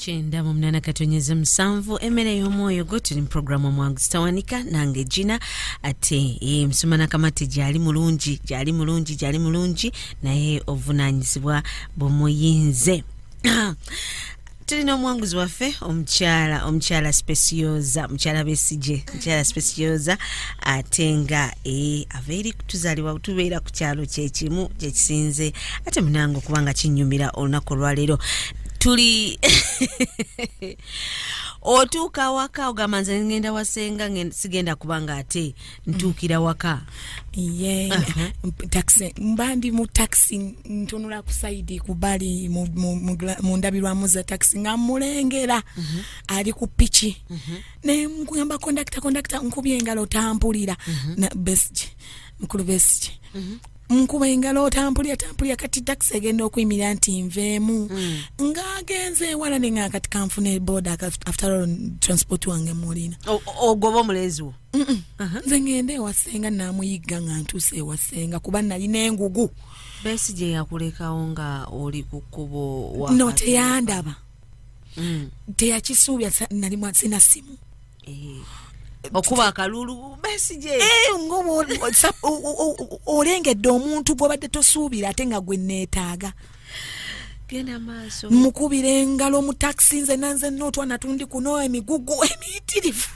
kyenda mu munana katonyeza musanvu emmere y'omwoyo gwo tuli mu puroguramu omwangu zitawanika nange gina ate emisoma eh, nakamati gyali mulungi gyali mulungi gyali mulungi naye obuvunanyizibwa bumuyinze tulina omuwanguzi waffe omukyala omukyala specioza mukyala besigye mukyala specioza ate nga e, ava eri kutuzalibwa tubeera ku kyalo kyekimu kyekisinze ate munange okuba nga kinyumira olunaku olwaleero tuli otuuka awaka ogamba nze ngenda wasenga sigenda kuba nga ate ntuukira waka ye taxi mba ndi mu taxi ntunula ku saidi ku bali mu ndabirwamu za taxi nga mulengera mhm. ali ku piki mhm. naye nkugamba kondakita kondakita nkubye engalo tampulira mhm. besigi mukulu besigi nkuba engalo otampulira tampulira kati taxi egenda okuyimirira nti nveemu mm. ng'agenze ewala ne nga kati kanfuna ebooda after all transport wange mulina ogoba omulenzi wo nze ngenda ewasenga namuyigga nga ntuuse ewasenga kuba nalina engugu besi gye yakulekawo nga oli ku kkubo no teyandaba mm. teyakisuubya nali mwasina simu eh. okuba akalulu besi gye eh, olengedde omuntu gwobadde tosuubira ate nga gwe neetaaga mukubira engalo mu takisi nze nanze nootwa natundi kuno emigugu emiyitirivu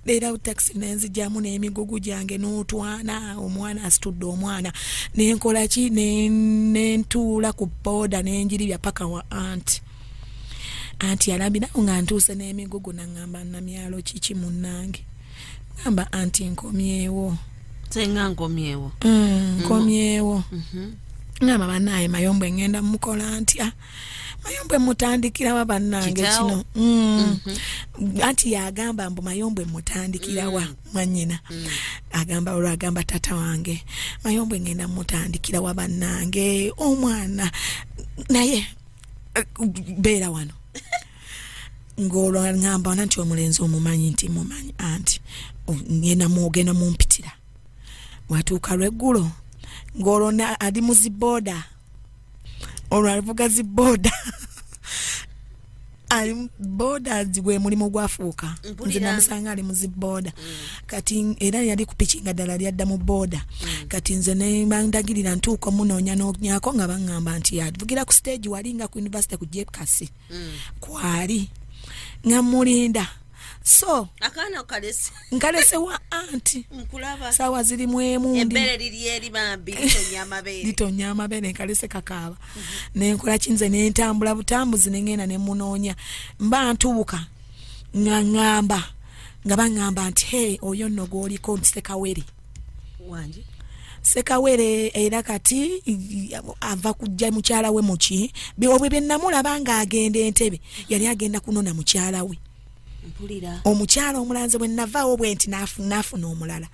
leero awo takisi nenzijamu n'emigugu gyange n'otwana omwana asitudde omwana nenkolaki nentuula ku booda nenjiribya paka wa anti anti yalambirawo nga ntuuse n'emigugu naŋamba namyalo kiki munnange namba anti nkomyewo senga nkomyewo mm, mm. nkomyewo mm -hmm. ngamba banaye mayombwe ngenda mukola ntya mayombwe mutandikirawa bannange kino mm. mm -hmm. anti yagamba mbu mayombwe mutandikirawa mm. mwanyina mm. agamba olwo agamba tata wange mayombwe ngenda mutandikirawa bannange omwana naye eh, beera wano ng'olwo ngamba ona nti omulenzi omumanyi nti mumanyi anti ngenda mwogenda mumpitira watuuka lweggulo ng'olwo ali mu zibooda olwo alivuga zibooda ali boda gwe mulimu gwafuuka nze namusanga ali muziboda mm. kati era yali kupiki nga ddala lyadda mu boda mm. kati nze nebandagirira ntuuka omunoonya nonyako nga baŋŋamba nti yavugira ku stage wali nga ku university ku jepkasi mm. kwali nga mulinda so akaana kalese nkalese wa anti nkulaba sawa ziri mwemu embere liri eri bambi litonya amabere litonya amabere nkalese kakaaba mm -hmm. nenkola kinze nentambula butambuzi nengenda nemunoonya mba ntubuka nga ngamba nga bangamba nti hey oyo nno gwoliko nti sekawere wangi sekawere era kati ava kujja mukyala we muki obwe byenamulaba nga agenda entebe yali agenda kunona mukyala we omukyala omulanze bwe navaawo bwe nti nafuna omulala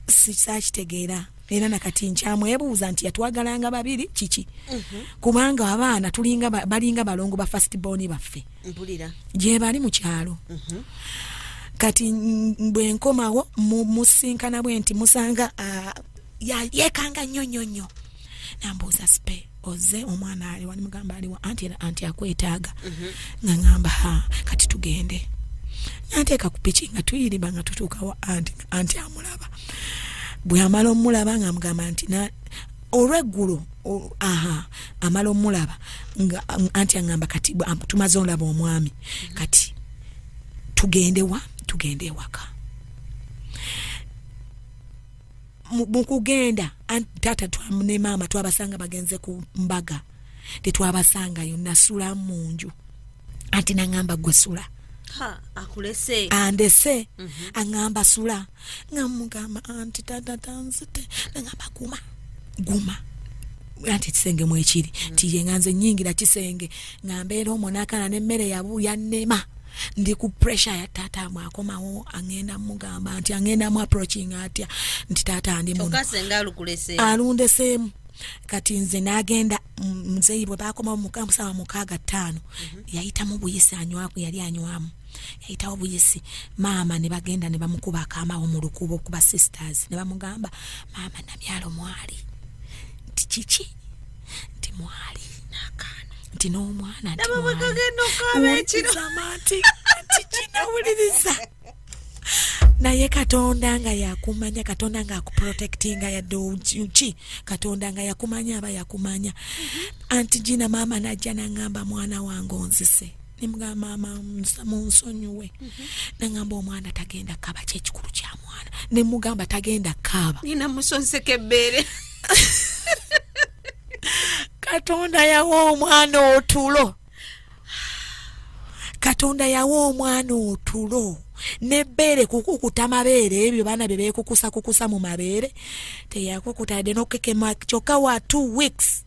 sikitegeera era nakati nkyamwebuuza nti yatwagalanga babiri kiki mhm. kubanga abaana tulinga balinga balongo ba fast boni baffe mpulira gyebali mu kyalo mhm. kati bwe nkomawo musinkana bwe nti musanga yekanga nnyo nnyo nnyo nambuuza sipe oze omwana ali wani mugamba aliwa anti anti akwetaaga mhm. nga ngamba ha kati tugende nanteeka ku piki nga tuyiriba nga tutuukawo anti anti amulaba bwamala omulaba nga mugamba nti olweggulo aha amala omulaba nga anti angamba kati tumaze olaba omwami kati tugendewa tugende ewaka mukugenda taata ne maama twabasanga bagenze ku mbaga tetwabasangayo nasula mu nju anti nangamba gwe sula andese mhm. angamba sula nga mugamba anti tata tanzite nagamba guma guma anti ekisenge mwekiri mm. tiye nga nze nyingira kisenge nga mbeera omonakana nemmere yabu yanema ndi ku pressure ya tata amwe akomawo angenda mugamba nti angenda mu approaching atya nti tata ndi muno alundesemu kati nze nagenda mzeyi bwe bakomawo mukamusaba mukaaga ttaano mm -hmm. yayitamu buyisi anywaku yali anywamu yayitawo buyisi maama ne bagenda ne bamukuba akaamawo mu lukuubo okuba sisters ne bamugamba maama namyalo mwali nti kiki nti mwali nakaana nti n'omwana ntiwulirizamanti nti kinawuliriza naye katonda nga yakumanya katonda nga akuprotectinga yadde uki katonda nga yakumanya aba yakumanya mm -hmm. anti jina maama najja nangamba mwana wange onzise nemugamba maama munsonyiwe mhm. nangamba omwana tagenda kaba kyekikulu kya mwana nemugamba tagenda kaaba nina musonseka ebbeere katonda yawa omwana otulo katonda yawa omwana otulo nebbeere kukukuta mabeere ebyo baana bye beekukusakukusa mu mabeere teyakukutadde nokukekema kyokka wa two weeks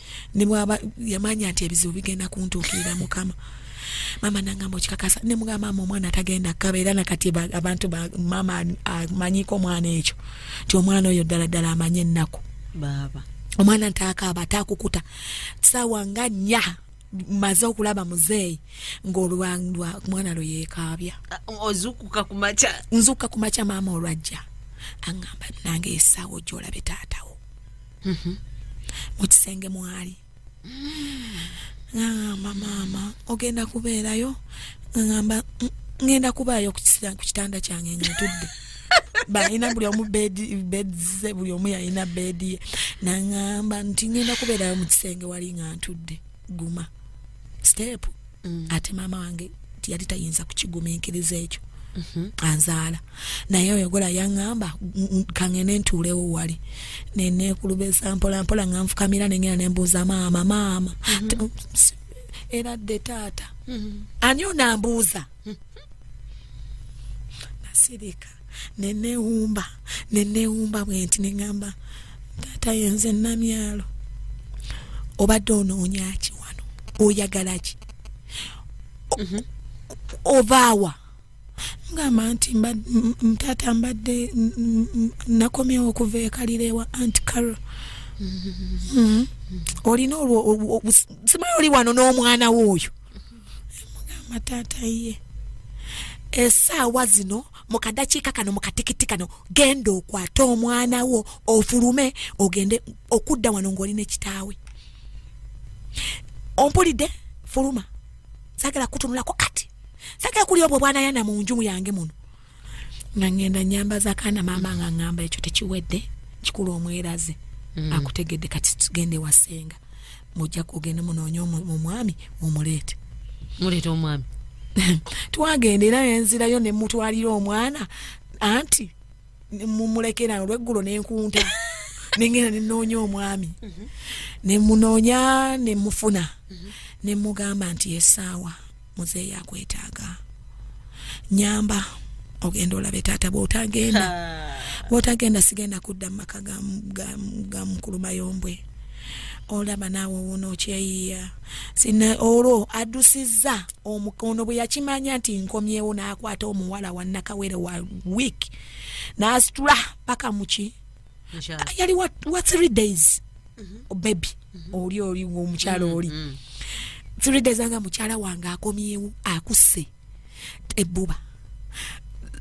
ne bwaba yamanya nti ebizibu bigenda kuntuukirira mukama mama nangamba okikakasa ne mugamba mama omwana atagenda kaba era nakati abantu ba mama amanyiko omwana ekyo nti omwana oyo ddala ddala amanye ennaku baaba omwana ntaakaaba ataakukuta saawa nga nnya maze okulaba muzeeyi ng'olwalwa mwana lwe yeekaabya ozukuka ku makya nzukuka ku makya maama olwajja aŋŋamba nange esaawa ojja olabe taatawo mhm. mu kisenge mwali ngamba maama ogenda kubeerayo ngamba ngenda kubaayo ku kitanda kyange nga ntudde balina buli omu bedze buli omu yalina bedi ye nangamba nti ngenda kubeerayo mu kisenge wali nga ntudde guma siteepu mm. ate maama wange yali tayinza kukigumiikiriza ekyo mm-hmm. anzaala naye oyogola yaŋŋamba kaŋene ntuulewo wali neneekulubeza mpolampola nga nfukamira nengenda nembuuza maama maama mm-hmm. era dde taata mm-hmm. ani onambuuza nasirika nenewumba nenewumba bwenti nengamba taata yenze namyalo obadde onoonyaki wano oyagalaki mhm. ovaawa ngamba nti taata mbadde nakomyewo okuva ekalira ewa anti caro mhm. mhm. olina olwo simayi oli wano n'omwana wo oyo mugamba taata ye esaawa zino mukadakiika kano mukatikiti kano genda okwate omwana wo ofulume ogende okudda wano ngaoli nekitaawe ompulidde fuluma sagala kutunulako kati sagala kuli obwo bwanayana munjumu yange muno nga ngenda nyambaza kaana maama nga ngamba ekyo tekiwedde kikulu omweraze mm. akutegedde kati tugende wasenga mujja kugenda munoonye omwami omuleete muleeta omwami twagenda era nenzirayo nemutwalira omwana anti mumulekerano lweggulo nenkunta nengenda nenoonya omwami mhm. nemunoonya nemufuna mhm. nemugamba nti esaawa muzeeyi akwetaaga nyamba ogenda olabe taata bwotagenda bwotagenda sigenda kudda mumaka ga mukulu mayombwe olaba naawe wuno okyeyiya sina olwo adusizza omukono bwe yakimanya nti nkomyewo n'akwata omuwala wannakawere wa wiiki n'asitula paka muki yali wa, wa three days mm -hmm. baby mm -hmm. oli oli omukyala mm -hmm. oli mm -hmm. three days anga mukyala wange akomyewo akuse ebbuba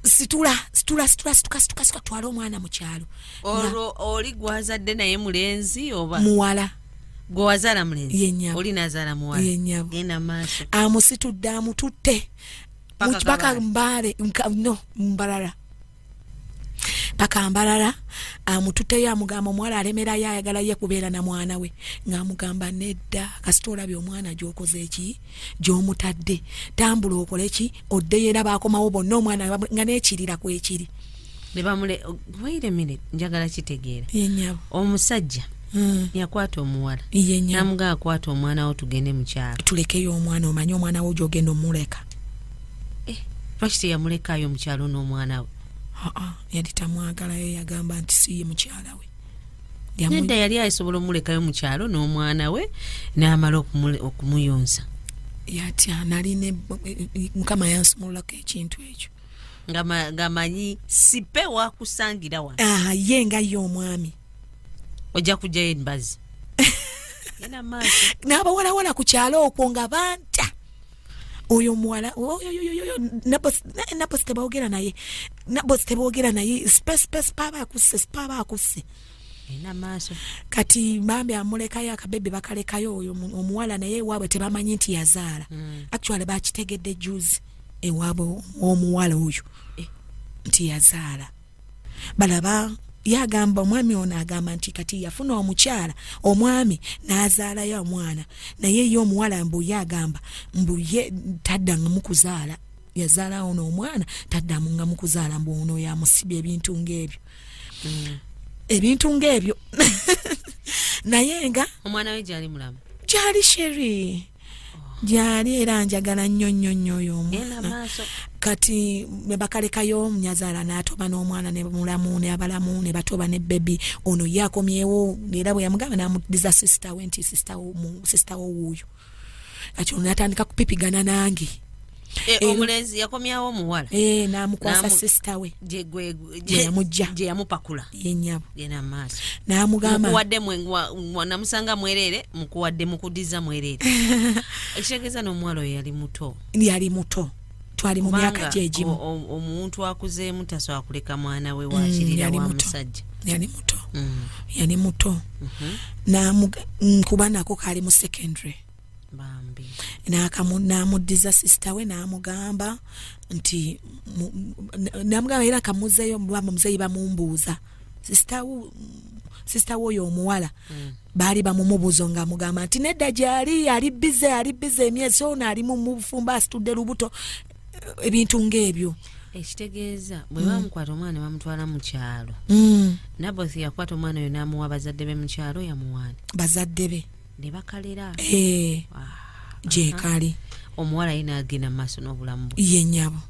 situla situla situla situka situka situka twala omwana mu kyalo olwo oli gwazadde naye mulenzi oba muwala gwewazala mulenzi oli nazala muwala yenyabo genda maaso amusitudde amututte mpaka mbaale no mbalala paka mbarara amutute ya mugamba mwala alemera ya yagala ye kubera na mwana we nga mugamba nedda kasitola byo mwana jokoze eki jo mutadde tambulo okole ki odde yera bako mawo bonno mwana nga ne kirira ku ekiri ne bamule wait a minute njagala kitegeera yenyabo omusajja Mm. yakwata omuwala namuga akwata omwana wo tugende mukyalo tulekeyo omwana omanye omwana wo jogenda omuleka eh, lwaki teyamulekaayo omukyalo n'omwana we aa yali tamwagalayo yagamba nti siye mukyala we nedda yali asobola omulekayo mukyalo n'omwana we n'amala okumuyonsa yatya naline mukama yansumululako ekintu ekyo ngamanyi sipe wakusangira wa ah, ye nga ye omwami ojja kujjayo embazi n'abawalawala ku kyalo okwo nga banta oyo muwala nabosi tebogera naye nabosi tebogera naye spespes paba akusse paba akusse kati bambi amulekayo akabebe bakalekayo oyo omuwala naye ewaabwe tebamanyi nti yazaala mm. actually bakitegedde juzi ewaabwe omuwala oyo eh. nti yazaala balaba yagamba omwami ono agamba nti kati yafuna omukyala omwami n'azaalayo omwana naye ye omuwala mbu ye agamba mbu ye taddanga mukuzaala yazaala ono omwana taddamu nga mukuzaala mbu ono yamusibya ebintu ng'ebyo mm. ebintu ng'ebyo naye nga omwana we gyali mulamu gyali sheri gyali era njagala nnyo nnyo nnyo oyo omwana kati nebakalekayo nyazaala n'atoba n'omwana ne mulamu ne abalamu ne batoba ne bebi ono ye akomyewo era bwe yamugamba n'amuddiza sisita we nti sisita wo wuuyo kati ono natandika kupipigana nange Eh, eh, omulenzi yakomyawo omuwala eh, namukwasa sisita we gyeyamujja gyeyamupakula yenyabo genda maaso namugambamukuwadde namusanga mwereere mukuwadde mukudiza mwereere ekitegeeza n'omuwala oyo yali muto yali muto twali mu myaka gyegimu omuntu akuzeemu tasobola kuleka mwana we mm, wakirira wa musajja yali muto mm. yali muto mhm. nkuba nako kaali mu secondary n'amuddiza sisita we n'amugamba nti namugamba era kamuzeeyo mubamba muzeeyi bamumbuuza sisita we oyo omuwala mm. baali bamumubuzo nga amugamba nti nedda gyali ali bize ali bize emyezi ono ali mu bufumbo asitudde lubuto ebintu ng'ebyo ekitegeeza bwe mm. bamukwata omwana bamutwala mu kyalo mm. naboth yakwata omwana oyo n'amuwa bazadde be mu kyalo yamuwaani bazadde be ne bakalera eh, ah, gyekali omuwala yina agenda mumaaso n'obulamu bwe ye nyabo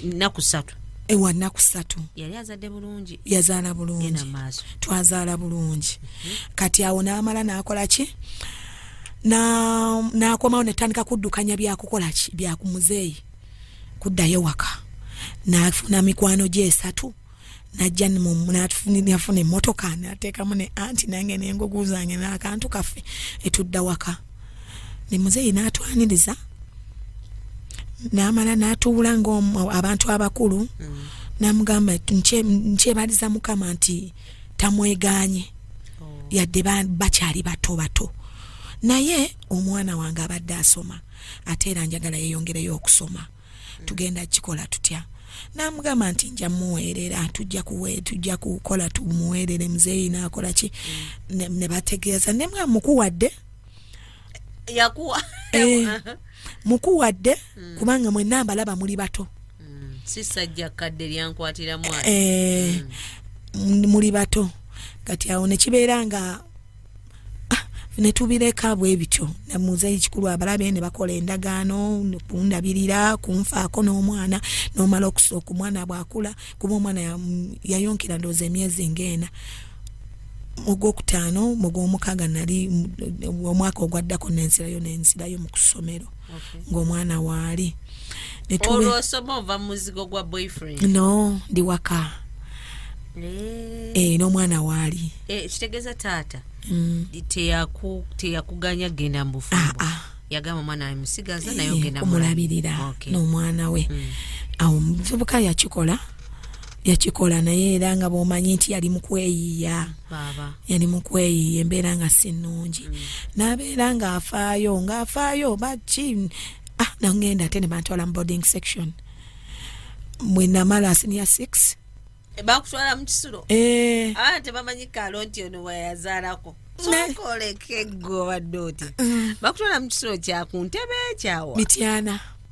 naku satu ewa naku satu yali azadde bulungi yazaala bulungi twazaala bulungi mhm. kati awo n'amala n'akola ki n'akomawo netandika kuddukanya byakukola ki byakumuzeeyi kuddayo waka n'afuna mikwano gye esatu najja nafuna emotoka nateekamu ne anti nange nengugu zange nakantu kaffe etudda waka ne muzeeyi natwaniriza namala natuula ngaabantu abakulu mm. namugamba nkyebaliza mukama nti tamweganye oh. yadde bakyali bato bato naye omwana wange abadde asoma ate era njagala yeyongereyo okusoma tugenda kikola tutya namugamba nti nja muweerera tujja kuwe tujja kukola tumuweerere muzeeyi nakola ki mm. ne bategeeza ne mwa mukuwadde yakuwa eh, mukuwadde mm. kubanga mwe namba laba muli bato mm. si sajja kadde lyankwatira mwana eh, muli bato kati awo ne kibeera nga ah, ne tubireka bwe bityo ne muzeeyi kikulu abalabe ne bakola endagaano kundabirira kunfaako n'omwana n'omala okusooka omwana bw'akula kuba omwana yayonkera ndowooza emyezi ng'ena mu gwokutaano mu gw'omukaaga nali omwaka ogwaddako nensirayo nensirayo mu kusomero ng'omwana waali no ndi waka eh. eh, n'omwana waali eh, kitegeeza taata mm. teyakuganya genda mubufumbo ah, ah. yagamba omwana we musigaza naye ogenda omulabirira n'omwana we mm. awo omuvubuka yakikola yakikola naye era nga bwomanyi nti yali mukweyiiya yali mukweyiiya embeera nga si nnungi mm. n'abeera ng'afaayo ng'afaayo baki ah nangenda ate ne bantwala mu boarding section mwe namala senior six e, bakutwala mu kisulo eh. ah, tebamanyi kalo nti ono weyazaalako sokolekeggo obadde oti mm. bakutwala mu kisulo kyakuntebe ekyawa mityana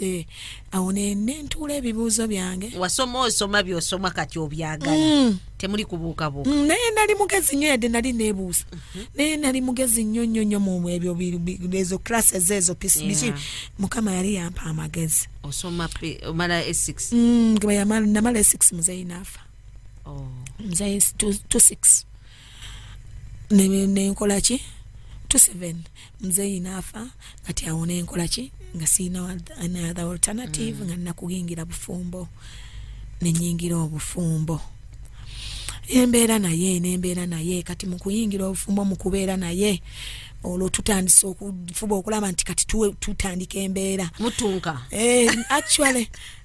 eh, awo nentuula ebibuuzo byange wasoma osoma byosoma kati obyagala mm. temuli kubuukabuuka mm, naye nali mugezi nyo yadde nali nebuuza mhm. naye nali mugezi nyo nyo nyo mu ebyo ezo classes ezo biki mukama yali yampa amagezi osoma omala e6 mm, namala e6 muzeyi naafa oh. muzeyi 26 nenkola ki to seven mzeyi naafa kati awo nenkola ki nga siina another alternative mm. nga nakuyingira bufumbo nenyingira obufumbo embeera naye nembeera naye kati mukuyingira obufumbo mukubeera naye olwo tutandise okufuba okulaba nti kati tutandika embeera mutunka eh, actually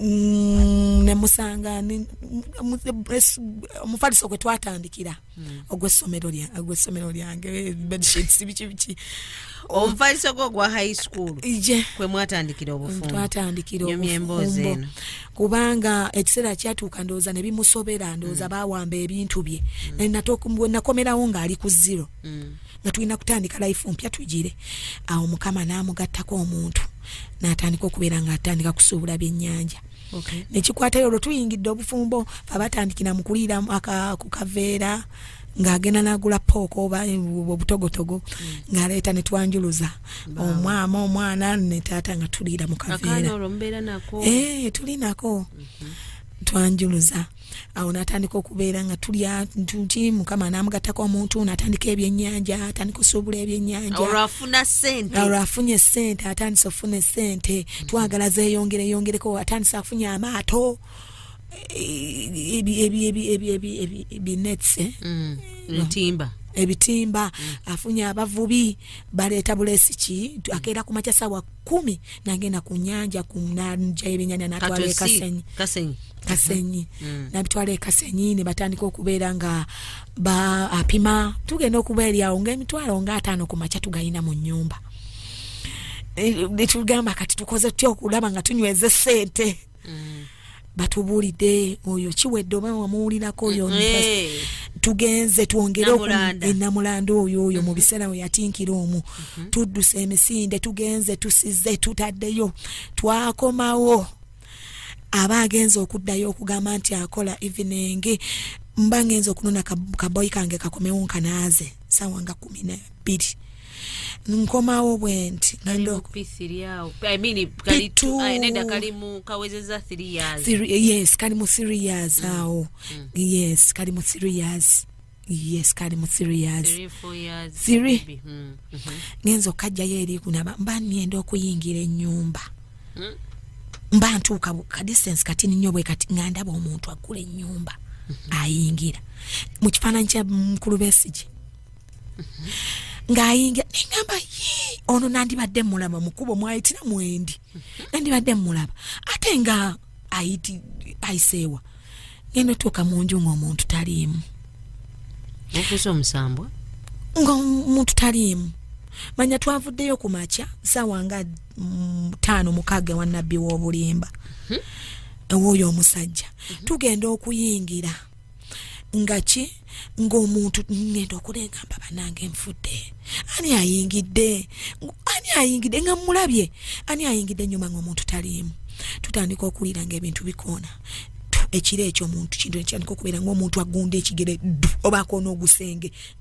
mm, nemusanga omufaliso gwe twatandikira hmm. ogwessomero lyange eh, bedsheets biki biki omufaliso gwo ogwa high school kwe mwatandikira obufumtwatandikira obufumbo kubanga ekiseera kyatuuka ndowooza ne bimusobera ndowooza hmm. bawamba ebintu bye hmm. nakomerawo ng'ali ku zero mm. nga tulina kutandika life mpya tugire awo mukama n'amugattako omuntu n'atandika okubeera nga atandika kusuubula byennyanja okay. nekikwatayo olwo tuyingidde obufumbo abatandikira mu kuliira ku kaveera ng'agenda n'agula pooko oba obutogotogo mm. ng'aleeta ne twanjuluza omwama omwana ne taata nga tuliira mu kaveera eh, tulinako mm-hmm. twanjuluza awo natandika okubeera nga tulya ntuti mukama namugattako omuntu natandika ebyenyanja atandika osuubula ebyenyanjaolwafuna sente olwo afunye sente atandise ofuna esente mm. twagala zeyongere yongereko atandise afunye amaato ebinetse ntimba ebitimba afunye abavubi baleeta bulesi ki akeera ku makya sawa kumi nagenda ku nyanja kunanja ebinyanya natwala ekasenyi kasenyi kasenyi mm. mm. nabitwala ekasenyi ne batandika okubeera nga ba apima tugenda okubeeryawo nga emitwalo nga ataano ku makya tugayina mu nyumba netugamba eh, kati tukoze tutya okulaba nga tunyweze sente mm. batubuulidde oyo kiwedde oba wamuwulirako oyo eh. tugenze twongere enamulandu eh, oyo oyo mu mhm. biseera we yatinkira omu mhm. tudduse emisinde tugenze tusize tutaddeyo twakomawo aba agenza okuddayo okugamba nti akola evening mba ngenza okunona kaboyi kange kakomewo nkanaaze sawa nga kumi nabiri nkomawo bwenti yes kali mu three years mm. awo mm. yes kali mu three years yes kali mu three years three mm. mm-hmm. ngenza okajjayo eri kunaba mba nenda okuyingira enyumba mm. mba ntuuka ka distance kati ninyo bwe kati nga ndaba omuntu agula enyumba mm-hmm. ayingira mu kifaananyi kya mukulu besigi ng'ayingira neŋamba yii ono nandibadde mulaba mukubo mwayitira mwendi nandibadde mulaba ate nga ayiti ayiseewa ngenda otuuka mu nju ng'omuntu taliimu okuza omusambwa ng'omuntu taliimu manya twavuddeyo ku makya saawa nga mm, taano mukaaga wa nabbi w'obulimba mhm. ewooyo omusajja mhm. tugenda okuyingira nga ki ng'omuntu ngenda okunegamba banange nfudde ani ayingidde ani ayingidde nga mulabye ani ayingidde nyuma ng'omuntu taliimu tutandika okuwulira ng'ebintu bikoona ekiro ekyo omuntu kintu ekitandika okubeera ng'omuntu agunda ekigere ddu oba akoona ogusenge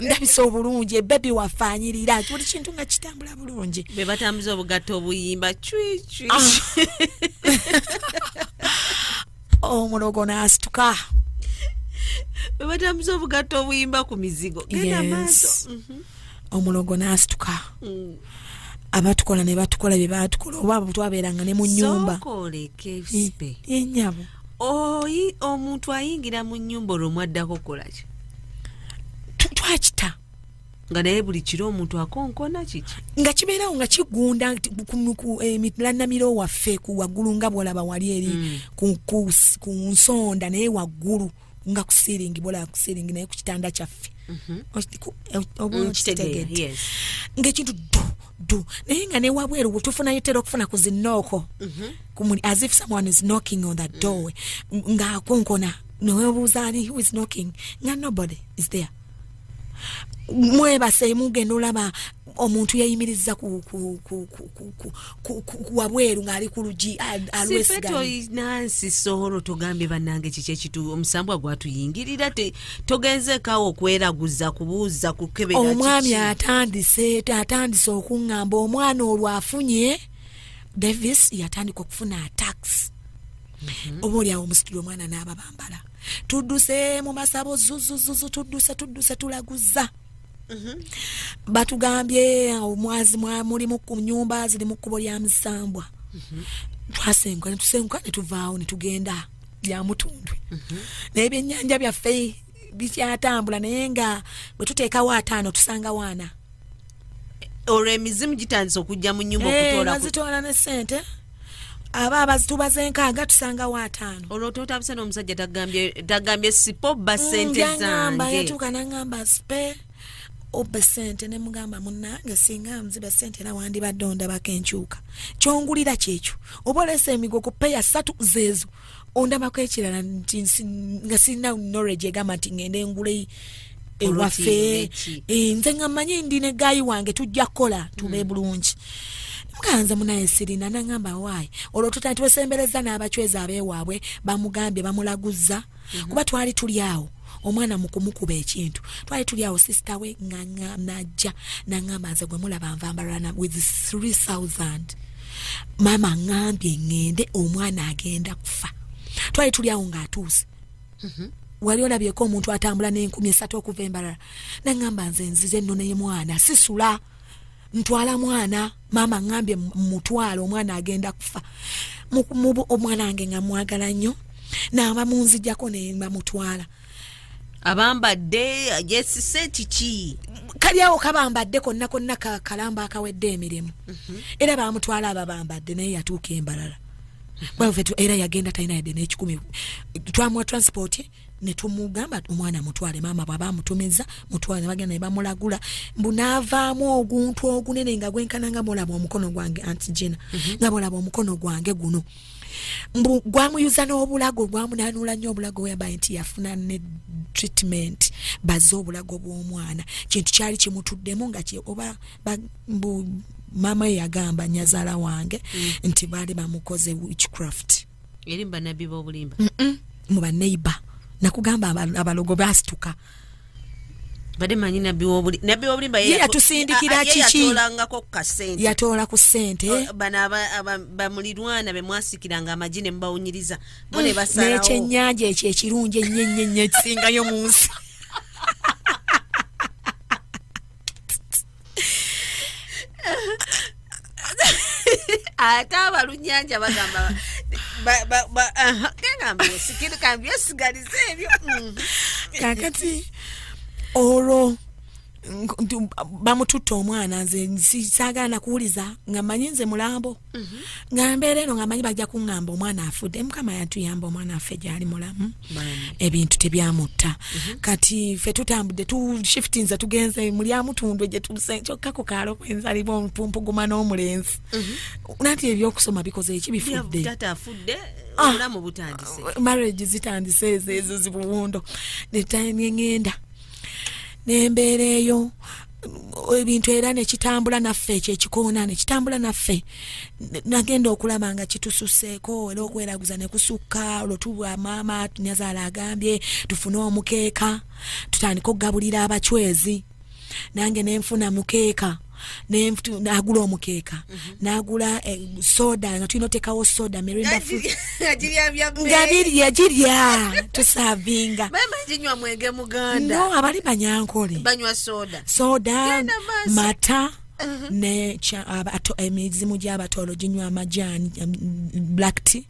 ndabisa obulungi ebebi wafaanyirira ati buli kintu nga kitambula bulungi be batambuza obugatto obuyimba cwicwi ah. omulogo n'asituka be batambuza obugatto obuyimba ku mizigo genda maaso mhm. omulogo n'asituka mm. abatukola ne batukola bye baatukola oba bwe twabeeranga ne mu nnyumba eh, eh, nyabo oyi omuntu ayingira mu nyumba olwo mwaddako kukolaki twakita nga naye buli kiro omuntu akonkona kiki nga kibeerawo nga kigunda emilanamiro eh, waffe ku waggulu nga bwolaba wali eri mm. ku nsonda naye waggulu nga ku ceiling bola ku ceiling naye ku kitanda kyaffe mhm. okitegeera ngaekintu du du naye nga newabweru tufunayo tera okufuna ku zinooko mhm. kumuli as if someone is knocking on the mm. door ngaakonkona newebuuza ali who is knocking nga nobody is there mwebase mugenda olaba omuntu yayimiriza wabweru ngaali ku lugi alwesiganansi soholo togambye banange kiki ekitu omusambwa gwatuyingirira togenzekawo okweraguza kubuuza kukebera omwami atandise atandise okuŋŋamba omwana olwo afunye davis yatandika okufuna atax mhm. oba olyawo omusituli omwana n'aba bambala tudduse mu masabo zuzuzuzu tudduse tudduse tulaguza mhm. batugambye omwazi mulimu ku nyumba ziri mu kkubo lya misambwa mhm. twasenguka netusenguka netuvaawo netugenda byamutundwe mhm. naye byenyanja byaffe bikyatambula naye nga bwetuteekawo ataano tusangawo ana olwo emizimu gitandise okujja mu nyumba eh, okutolazitoola ne sente aba abazitubaza enkaaga tusangawo ataano olwo totabuse n'omusajja tagambye sipo ba mm, sente zange yatuuka nangamba sipe obbe sente ne mugamba munange singa nziba sente era wandibadde ondabako enkyuka kyongulira kyekyo oba olesa emigo ku peya satu zeezo ondabako ekirala nti nga sirina knowledge egamba nti ngende ngule ewaffe eh, nze nga manyi ndi ne gayi wange tujja kukola tube mm. bulungi muganze munaye sirina nangamba waayi olwo tuta nti wesembereza n'abacwezi abeewaabwe bamugambye bamulaguzza mm-hmm. kuba twali tuli awo mm. omwana mukumukuba ekintu twali tuli awo sister we najja nangamba nze gwe mulaba nvambalana with 3000 maama ngambye ngende omwana agenda kufa twali tuli awo ngaatuuse mhm. wali olabyeko omuntu atambula n'enkumi esatu okuva embalala nangamba nze nzize noneye mwana sisula ntwala mwana maama ngambye mutwala omwana agenda kufa omwana wange nga mwagala nnyo naaba munzijako nebamutwala abambadde yesise kiki kali awo kabambadde konna konna kalamba akawedde emirimu mhm. era bamutwala ababambadde naye yatuuka embalala mhm. era yagenda talina yadde nekikumi twamuwa transport netumugamba omwana mutwale maama bwaba amutumiza mutwale nebagenda nebamulagula mbu naavaamu oguntu ogunene nga gwenkana nga mulaba omukono gwange anti jina mm -hmm. nga mulaba omukono gwange guno mbu gwamuyuza n'obulago gwamunanuula nnyo obulago weyambaye nti yafuna ne treatment baze obulago bw'omwana kintu kyali kimutuddemu nga oba mbu maama ye yagamba nyazaala wange mm. nti baali bamukoze witchcraft eri mubanabbi bobulimba mu baneiba nakugamba abalogo basituka bade manyi nabbi wobulimba ye yatusindikira kiki yatoola ku sente oh, bano bamulirwana bemwasikiranga amagi ne mubawunyiriza bo ne mm, basalawo nekyenyanja ekyo ekirungi ennyenyenye ekisingayo mu nsi ate abalunyanja bagamba ebyo mm. kakati olwo bamututte omwana nze saagala nakuwuliza nga manyi nze mulambo nga mbeera eno nga manyi bajja kuŋŋamba omwana afudde mukama yatuyamba omwana affe gyali mulamu ebintu tebyamutta mhm. kati fe tutambudde tushiftinze tugenze mulyamutundwe gyetusekyokkaku kaalo kwenzaliba omupumpuguma n'omulenzi mhm. nanti ebyokusoma bikoze eki bifudde ah, marriage zitandise ezo ezo zibuwundo netime ngenda nembeera eyo ebintu era nekitambula naffe ekyo ekikoona nekitambula naffe nagenda okulaba nga kitususeeko era okweraguza nekusukka olwo tubwa maama tunyazaala agambye tufune omukeeka tutandike okugabulira abacwezi nange nenfuna mukeeka nagula omukeeka n'agula eh, soda nga tulina otekawo soda mirinda nga birya girya tusavinga no abali banyankole soda mata uh-huh. ne emizimu gy'abatolo ginywa amajaani um, black tea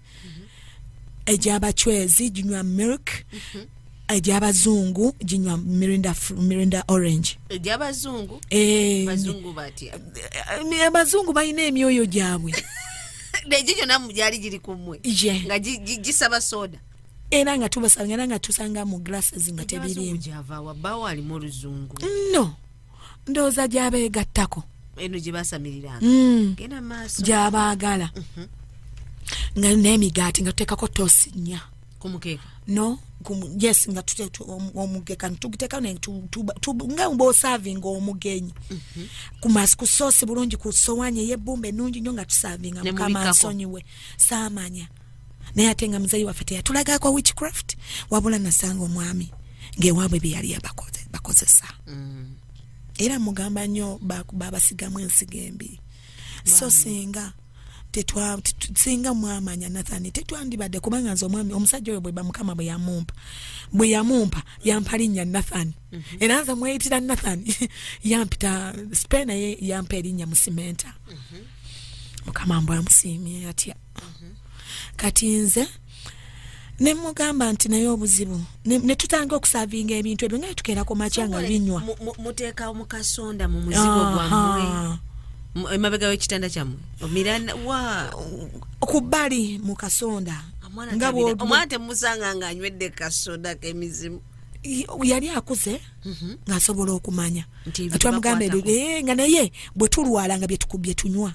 egyabacwezi ginywa milk egyabazungu ginywa mirinda, mirinda orange egyabazungu eh, bazungu batya eh, abazungu balina emyoyo gyabwe egyo gyona gyali giri kumwe nga gisaba soda era nga tubasanga era nga tusanga mu glasses nga tebirimu no ndowooza gyabeegattako eno gye baasamiriranga hmm. genda maaso gyabaagala mhm. nga n'emigaati nga tuteekako toosi nnya ku mukeeka no yes nga omugeka ntugiteka nga mba osavinga omugenyi mhm. kumasi kusoosi bulungi ku sowaani ey'ebbumba ennungi nnyo nga tusavinga mukama nsonyiwe saamanya naye ate nga muzeyi waffe teyatulagaako witchcraft wabula nasanga omwami ngaewaabwe byeyali yabakozesa mm. era mugamba nnyo babasigamu ensiga embi so singa singa mwamanya nathani tetwandibadde kubanga nze omwami omusajja oyo bweba mukama bwe yamumpa bwe yamumpa yampa linnya nathani mm -hmm. era nze mweyitira nathani yampita spe naye yampa erinnya musimenta mm -hmm. mukama mbwamusiimye atya kati nze ne mugamba nti naye obuzibu ne tutandika okusavinga ebintu ebyo nga tukeera ku makya nga binywa muteeka mu kasonda mu muzigo gwammwe emabega w'ekitanda kyammwe omiranda wa ku bbali mu kasonda nga omwana temusanga nga anywedde kasoda kemizimu yali akuze mhm. ng'asobola okumanya nga twamugamba ebyo eh, nga naye bwe tulwala nga bye tunywa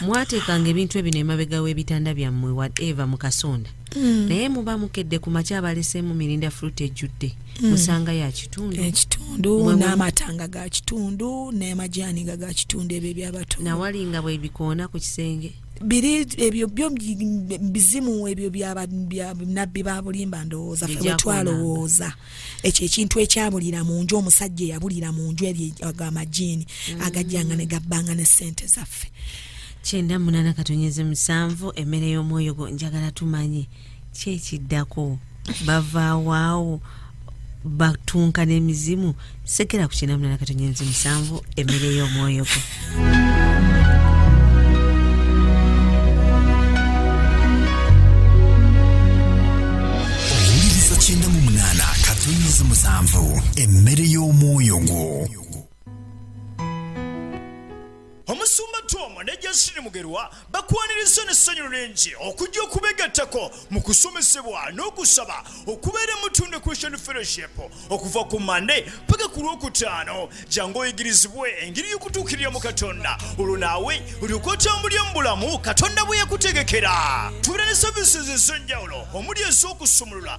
mwateekanga ebintu ebino emabega w'ebitanda byammwe whatever mu kasonda mm. naye muba mukedde ku makya abaleseemu mirinda fruit ejjudde mm. musanga ya kitundu ekitundu n'amatanga ga kitundu n'amajaani nga ga kitundu ebyo ebyabato nawali nga bwebikoona ku kisenge biri ebyo byo bizimu ebyo bya nabbi babulimba ndowooza fe bwetwalowooza ekyo ekintu ekyabulira mu nju omusajja eyabulira mu nju ebyo agamajiini mm. agajjanga ne gabbanga ne ssente zaffe kyenda munana katonyeze musanvu emmere y'omwoyo gwo njagala tumanye kyekiddako bavawaawo batunka n'emizimu sekera ku kinamuna na katonyenzi musanvu emmere y'omwoyo gwo owuliriza kyenda mu munaana katonyenzi musanvu emmere y'omwoyo gwo Omusumba Tom ne Jasine Mugerwa bakwanirizza n'essanyu lingi okujja okubegattako mu kusomesebwa n'okusaba okubeera mu Tunde Christian Fellowship okuva ku Mande paka ku Lwokutaano jangu oyigirizibwe engeri y'okutuukirira mu Katonda olwo naawe olyoke otambulire mu bulamu Katonda bwe yakutegekera. Tubeera ne services ez'enjawulo omuli ez'okusumulula